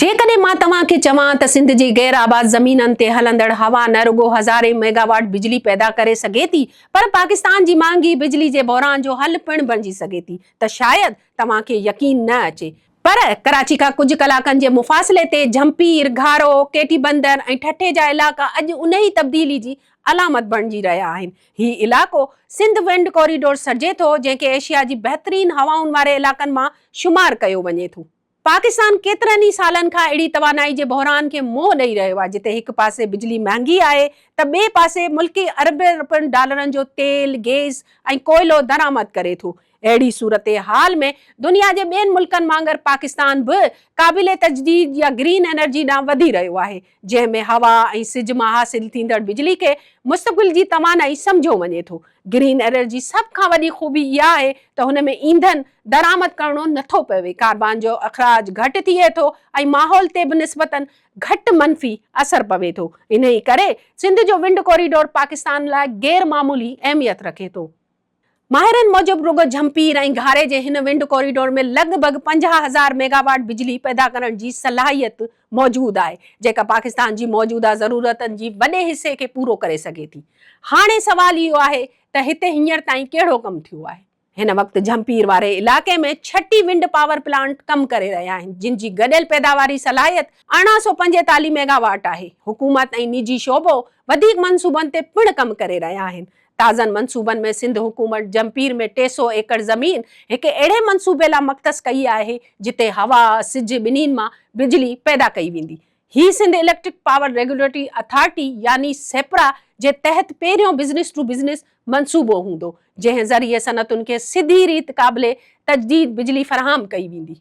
جيڪڏهن مان توهان کي چوان ته سنڌ جي غير آباد زمينن تي هلندڙ هوا نه رڳو هزارين ميگاواٽ بجلي پيدا ڪري سگهي ٿي پر پاڪستان جي مهانگي بجلي جي بحران جو حل پڻ بڻجي سگهي ٿي ته شايد توهان کي يقين نه اچي پر ڪراچي کان ڪجهه ڪلاڪن جي مفاصلي تي جهمپير، گهارو، ڪي ٽي بندر ۽ ٺٽي جا علائقا اڄ انهي تبديلي جي علامت بڻجي رهيا آهن. هي علائقو سنڌ ونڊ ڪوريڊور سڏجي ٿو جنهن کي ايشيا جي بهترين هوائن واري علائقن مان شمار ڪيو وڃي ٿو. پاڪستان ڪيترن ئي سالن کان اهڙي توانائي جي بحران کي منهن ڏئي رهيو آهي جتي هڪ پاسي بجلي مهانگي آهي ته ٻئي پاسي ملڪ اربين رپين ڊالرن جو تيل، گيس ۽ ڪوئلو درآمد ڪري ٿو. اهڙي صورتحال ۾ دنيا جي ٻين ملڪن وانگر پاڪستان به قابل تجديد يا گرين انرجي ڏانهن وڌي رهيو آهي. جنهن ۾ هوا ۽ سج مان حاصل ٿيندڙ بجلي کي مستقبل جي توانائي سمجهيو وڃي ٿو. گرين انرجي سڀ کان وڏي خوبي اها آهي ته هن ۾ اينڌن درآمد ڪرڻو نه ٿو پوي، ڪاربان جو اخراج گهٽ ٿئي ٿو ۽ ماحول تي به نسبتا گهٽ منفي اثر پوي ٿو. انهيء ڪري سنڌ جو ونڊ ڪوريڊور پاڪستان لاء غير معمولي اهميت رکي ٿو. ماهرن موجب رڳو جهمپير ۽ گهاري جي هن ونڊ ڪوريڊور ۾ لڳ ڀڳ پنجاهه هزار ميگا واٽ بجلي پيدا ڪرڻ جي صلاحيت موجود آهي جيڪا پاڪستان جي موجوده ضرورتن جي وڏي حصي کي پورو ڪري سگهي ٿي هاڻي سوال اهو آهي ته هتي هينئر تائين ڪهڙو ڪم ٿيو آهي. هن وقت جهمپير واري علائقي ۾ ڇٽي ونڊ پاور پلانٽ ڪم ڪري رهيا آهن جن جي گڏيل پيداواري صلاحيت ارڙهن سؤ پنجيتاليهه ميگا واٽ آهي حڪومت ۽ نجي شعبو وڌيڪ منصوبن تي پڻ ڪم ڪري رهيا آهن تازن منصوبن ۾ سنڌ حڪومت جهمپير ۾ ٽي سؤ ايڪڙ زمين هڪ اهڙي منصوبي لا مختص ڪئي آهي جتي هوا، سج ٻنهين مان بجلي پيدا ڪئي ويندي. هي Sindh electric power regulatory authority يعني سيپرا جي تحت پهريون بزنس ٽو بزنس منصوبو هوندو جنهن ذريعي صنعتن کي سڌي ريت قابل تجديد بجلي فراهم ڪئي ويندي.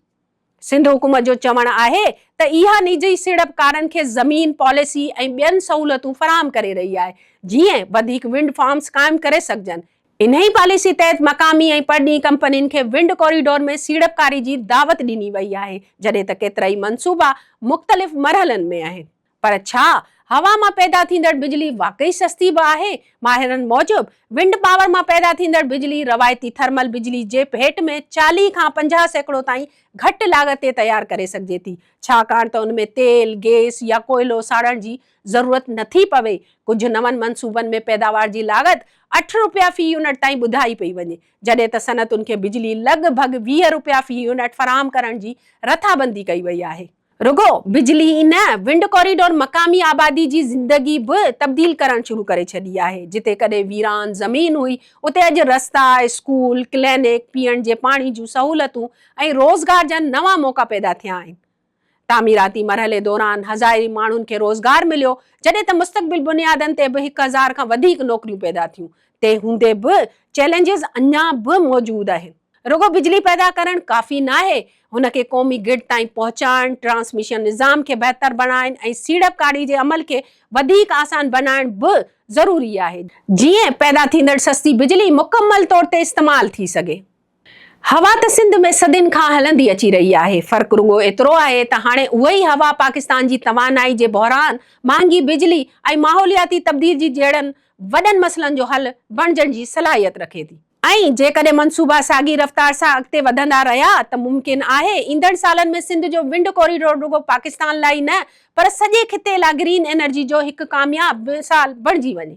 سنڌ حڪومت جو چوڻ آهي ته اها نجي سيڙپڪارن کي زمين، پاليسي ۽ ٻين سهولتون فراهم ڪري رهي آهي، جيئن وڌيڪ ونڊ فارمز قائم ڪري سگهجن. انهي پاليسي تحت مقامي ۽ پرڏيهي ڪمپنين کي ونڊ ڪوريڊور ۾ سيڙپڪاري جي دعوت ڏني وئي آهي، جڏهن ته ڪيترائي منصوبا مختلف مرحلن ۾ آهن. پر ڇا هوا مان پيدا ٿيندڙ بجلي واقعي سستي به آهي؟ ماهرن موجب، ونڊ پاور مان پيدا ٿيندڙ بجلي روايتي ٿرمل بجلي جي ڀيٽ ۾ چاليهه کان پنجاهه سيڪڙو تائين گهٽ لاڳت تي تيار ڪري سگهجي ٿي، ڇاڪاڻ ته ان ۾ تيل، گيس يا ڪوئلو ساڙڻ جي ضرورت نٿي پوي. ڪجهه نون منصوبن ۾ پيداوار جي لاڳت اٺ رپيا في يونٽ تائين ٻڌائي پئي وڃي، جڏهن ته صنعتن کي بجلي لڳ ڀڳ ويهه رپيا في يونٽ فراهم ڪرڻ جي رٿابندي ڪئي وئي آهي. رڳو بجلي ئي نه، ونڊ ڪوريڊور مقامي آبادي جي زندگي به تبديل ڪرڻ شروع ڪري ڇڏي آهي. جتي ڪڏهن ويران زمين هئي، اتي اڄ رستا، اسڪول، ڪلينڪ، پيئڻ جي پاڻي جون سهولتون ۽ روزگار جا نوان موقعا پيدا ٿيا آهن. تعميراتي مرحلي دوران هزارين ماڻهن کي روزگار مليو، جڏهن ته مستقبل بنيادن تي به هڪ هزار کان وڌيڪ نوڪريون پيدا ٿيون. تنهن هوندي به چئلينجز اڃا به موجود آهن. رڳو بجلي پيدا ڪرڻ ڪافي ناهي، هن کي قومي گرڊ تائين پهچائڻ، ٽرانسميشن نظام کي بهتر بڻائڻ ۽ سيڙپڪاري جي عمل کي وڌيڪ آسان بنائڻ به ضروري آهي، جيئن پيدا ٿيندڙ سستي بجلي مڪمل طور تي استعمال ٿي سگهي. هوا ته سنڌ ۾ صدين کان هلندي اچي رهي آهي، فرق رڳو ايترو آهي ته هاڻي اهوئي هوا پاڪستان جي توانائي جي بحران، مهانگي بجلي ۽ ماحولياتي تبديلجي جهڙن وڏن مسئلن جو حل بڻجڻ جي صلاحيت رکي ٿي. ۽ جيڪڏهن منصوبا ساڳي رفتار سان اڳتي وڌندا رهيا ته ممڪن آهي ايندڙ سالن ۾ سنڌ جو ونڊ ڪوريڊور رڳو پاڪستان لاء ئي نه پر سڄي خطي لاء گرين انرجي جو هڪ ڪامياب مثال بڻجي وڃي.